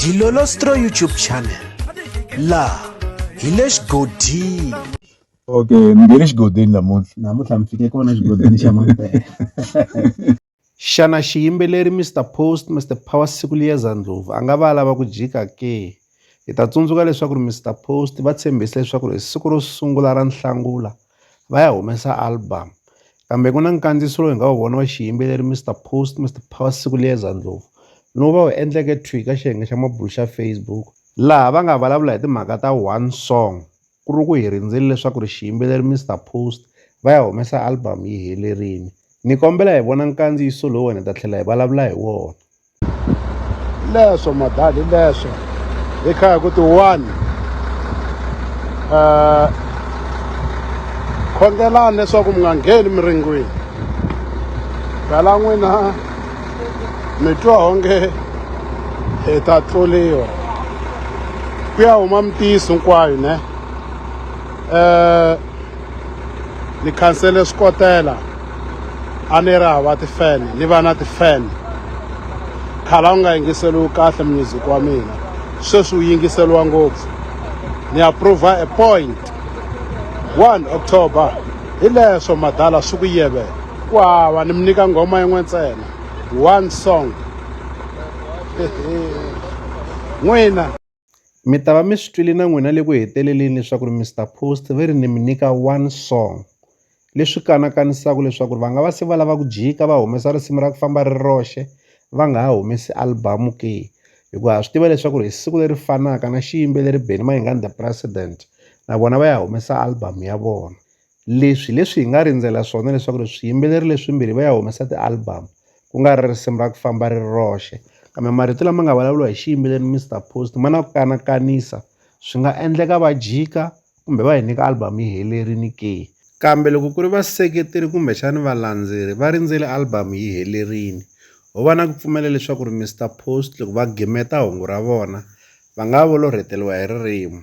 Dilolostro YouTube channel la hi le xigodini okay ni nge le xigodini namuntlha namuntlha mi fike kona xigodini xa mampela xana xiyimbeleri mr post mr power siku liyeza ndlovu a nga va a lava ku jika ke hi ta tsundzuka leswaku ri mr post va tshembise leswaku ri hi siku ro sungula ra nhlangula va ya humesa album kambe ku na nkandziyiso lowu hi nga wu vona wa xiyimbeleri Mister Post Mister Power Sikuliyeza Ndlovu lowu va wu endleke thwi ka xiyenge xa mabulo xa Facebook laha va nga vulavula hi timhaka ta one song ku ri ku hi rindzele leswaku ri xiyimbeleri Mister Post va ya humesa album yi helerile ni kombela hi vona nkandziyiso lowu wena hi ta tlhela hi vulavula hi wona. leswo madali leswo hi kha hi ku ti one um eh, khongelani leswaku mi nga ngheni miringwini phela n'wina mi twa onge hi ta tluriwa ku ya huma mitiyiso hinkwayo ne um ni khansele swikotela a ni ri hava ti-fan ni va na ti-fan khale a wu nga yingiseriwi kahle music wa mina sweswi wu yingiseriwa ngopfu ni approva a point one october hi leswo madala swi ku yeve ku hava ni mi nyika nghoma yin'we ntsena one song n'wina Mi ta va mi swi twile na n'wina le ku heteleleni leswaku ri Mister Post ve ri ni mi nyika one song leswi kanakanisaka leswaku ri va nga va se va lava ku jika va humesa risimu ra ku famba ri ri roxe va nga ha humesi album ke, hikuva ha swi tiva leswaku ri hi siku leri fanaka na xiyimbeleri Benny Mayengani the president na vona va ya humesa album ya vona leswi hi leswi hi nga rindzela swona leswaku ri swiyimbeleri leswimbirhi va ya humesa ti-album ku nga ri risimu ra ku famba ri ri roxe kambe marito lama nga vulavuriwa hi xiyimbeleri Mister Post ma na ku kanakanisa swi nga endleka va jika kumbe va hi nyika album yi helerile ke kambe loko ku ri vaseketeri kumbexani valandzeri va rindzele album yi helerile ho va na ku pfumela leswaku ri Mister Post loko va gimeta hungu ra vona va nga volorheteliwa hi ririmi